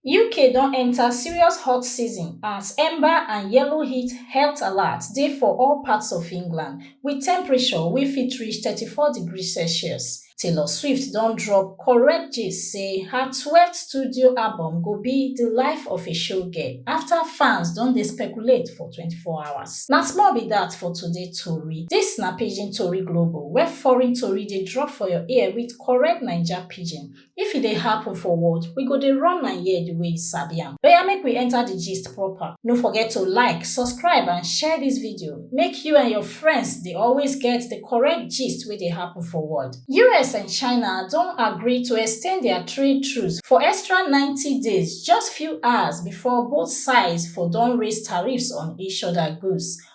uk don enta serious hot season as amber and yellow heat health alert dey for all parts of england wit temperature wey fit reach 34 degrees celsius taylor swift don drop correct gist say her 12th studio album go be di life of a showgirl afta fans don dey speculate for 24 hours na small be dat for today tori dis na pidgin tori global where foreign tori dey drop for your ear wit correct naija pidgin If e dey happen for world, we go dey run am here the way you sabi am. Oya make we enter the gist proper. No forget to like, subscribe and share this video make you and your friends dey always get the correct gist wey dey happen for world. US and China don agree to extend their trade truce for extra ninety days just few hours before both sides for don raise tariffs on each other goods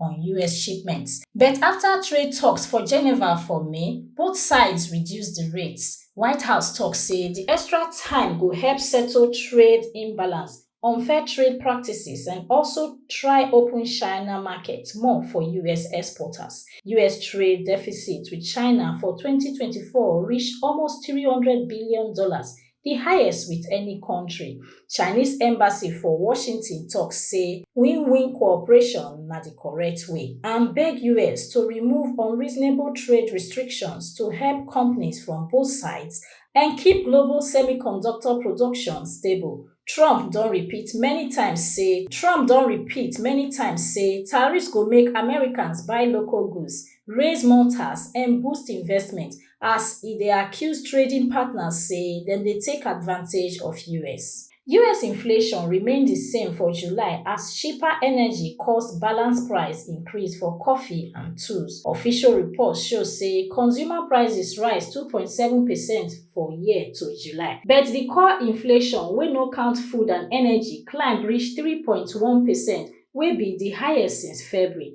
on us shipments but afta trade toks for geneva for may both sides reduce di rates white house tok say di extra time go help settle trade imbalance unfair trade practices and also try open china market more for us exporters us trade deficit with china for 2024 reach almost 300 billion dollars di highest wit any kontri. Chinese embassy for Washington tok say win-win cooperation na di correct way and beg us to remove unreasonable trade restrictions to help companies from both sides and keep global semiconductor production stable. Trump don repeat many times say Trump don repeat many times say tariffs go make Americans buy local goods, raise more tax and boost investment as e dey accuse trading partners say dem dey take advantage of us. Us inflation remain di same for July as cheaper energy cause balance price increase for coffee and tools. Official reports show say consumer prices rise two point seven percent for year to July, but di core inflation, wey no count food and energy, climb reach three point one percent, wey be di highest since February.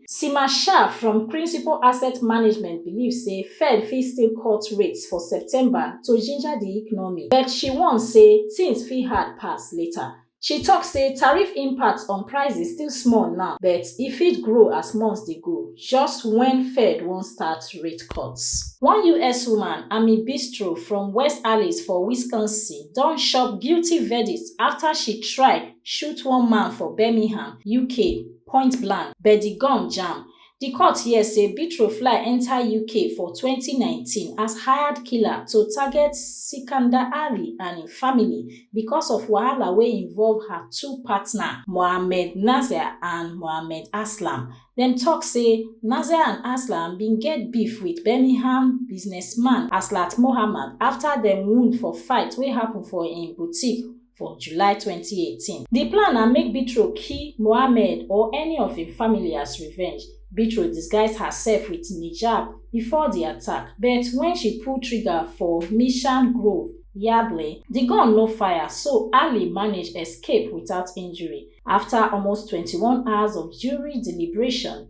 Seema Shah from Principal Asset Management believe say Fed fit still cut rates for September to ginger di economy, but she warn say tins fit hard pass later. She tok say tariff impact on prices still small now, but e fit grow as months dey go, just wen Fed wan start rate cuts. One us woman, Amy Bistro from West Allis for Wisconsin, don chop guilty verdict afta she try shoot one man for Birmingham, UK. point blank but di gun jam di court hear say betro fly enta uk for 2019 as hired killer to target sikandar ali and im family becos of wahala wey involve her two partner mohammed nasir and mohammed aslam dem tok say nasir and aslam bin get beef wit birmingham businessman aslat mohammad afta dem wound for fight wey happun for im boutique for July 2018. Di plan na make Bitro kill Mohammed or any of im family as revenge. Bitro disguise herself wit Nijab before di attack, but wen she pull trigger for Mission Grove, Yardley, di gun no fire so Ali manage escape without injury. Afta almost twenty one hours of jury deliberation,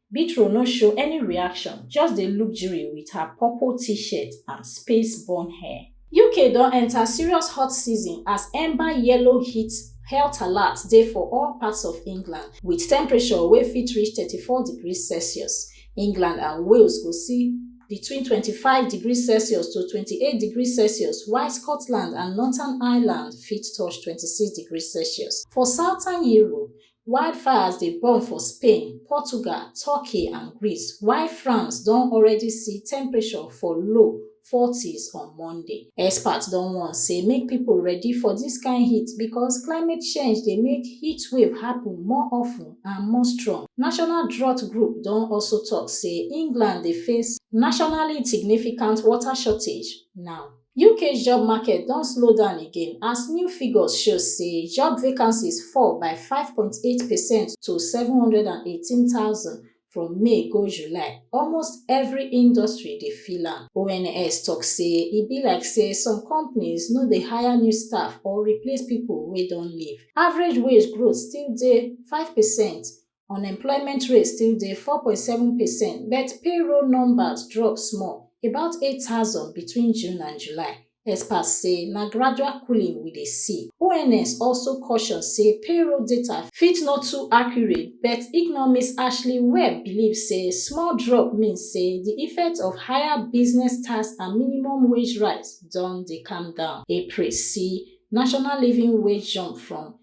Bitro no show any reaction, just dey look Jiri with her purple t-shirt and space bun hair. UK don enta serious hot season as Amber Yellow heat health alert dey for all parts of England, with temperature wey fit reach 34 degrees Celsius. England and Wales go see between 25 degrees Celsius to 28 degrees Celsius, while Scotland and Northern Ireland fit touch 26 degrees Celsius. For Southern Europe, wildfires dey burn for spain portugal turkey and greece while france don already see temperature for low 40s on monday experts don warn say make pipo ready for dis kain heat becos climate change dey make heatwave happun more often and more strong national drought group don also tok say england dey face nationally significant water shortage now uk job market don slow down again as new figures show say job vacancies fall by 5.8 percent to 718000 from may go july almost every industry dey feel am ons tok say e be like say some companies no dey hire new staff or replace pipo wey don leave average wage growth still dey 5 percent Unemployment rate still dey 4.7 percent, but payroll numbers drop small, about 8,000 between June and July. Experts say na gradual cooling we dey see. ONS also caution say payroll data fit no too accurate, but economist Ashley Webb believe say small drop mean say di effect of higher business tax and minimum wage rise don dey calm down. April see national living wage jump from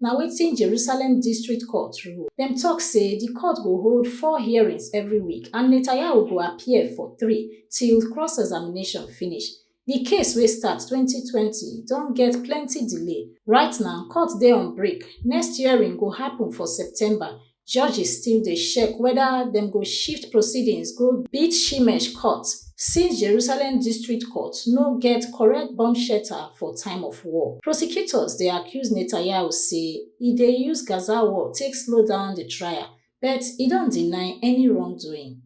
na wetin Jerusalem District Court rule. Dem tok say di court go hold four hearings every week and Netanyahu go appear for three till cross-examination finish. Di case wey start twenty twenty don get plenty delay. Right now, court dey on break, next hearing go happun for September judges still dey shek weda dem go shift proceedings go Beit Shemesh Court since Jerusalem District Court no get correct bomb shelter for time of war. Prosecutors dey accuse Netanyahu say e dey use Gaza war take slow down di trial, but e don deny any wrongdoing.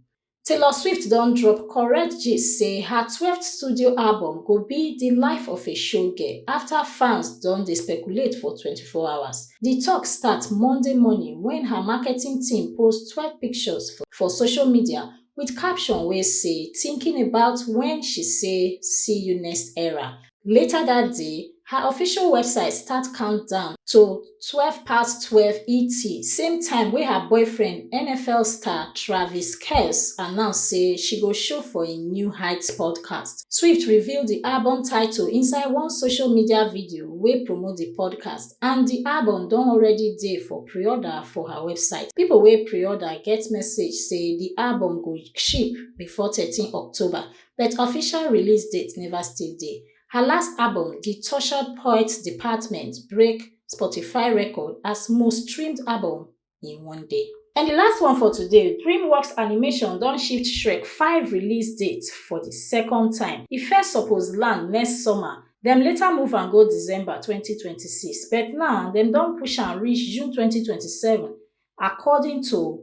Taylor Swift don drop correct gist say her 12th studio album go be di life of a showgirl afta fans don dey speculate for 24 hours. Di tok start Monday morning wen her marketing team post 12 pictures for social media wit caption wey say thinking about wen she say see you next era. Later dat day, her official website start countdown to twelve past twelve ET, same time wey her boyfriend, NFL star Travis Kelce, announce say she go show for im new Heights podcast. Swift reveal di album title inside one social media video wey promote di podcast, and di album don already dey for pre-order for her website. Pipo wey pre-order get message say di album go ship before thirteen October, but official release date neva still dey. Her last album, The Tortured Poets Department, break Spotify record as most streamed album in one day. And di last one for today, DreamWorks Animation don shift Shrek 5 release date for di second time. E first suppose land next summer, dem later move am go December 2026, but now dem don push am reach June 2027 according to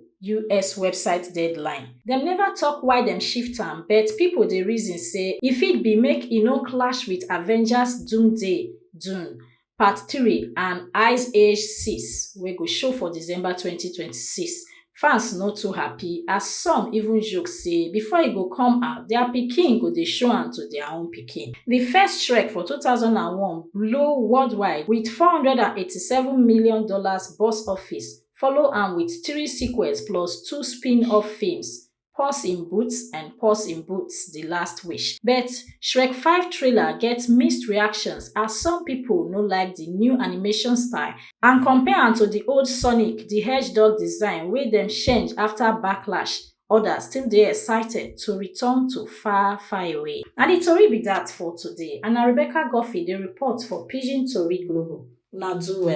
us website deadline dem neva tok why dem shift am but pipo dey reason say e fit be make e no clash wit avengers doomsday dune part three and ice age six wey go show for december twenty twenty six fans no too happy as some even joke say before e go come out dia pikin go dey show am to dia own pikin di first shrek for two thousand and one blow worldwide wit four hundred and eighty seven million dollars Ghana's box office, follow am wit three sequels plus two spin-off feems, Puss in Boots and Puss in Boots, The Last Wish. But Shrek Five trailer get mixed reactions as some pipo no like di new animation style and compare am to di old Sonic di Hedgehog design wey dem change afta backlash, odas still dey excited to return to far, far away. Na di tori be dat for today and na Rebecca Guffey dey report for Pidgin Tori Global. Una do well.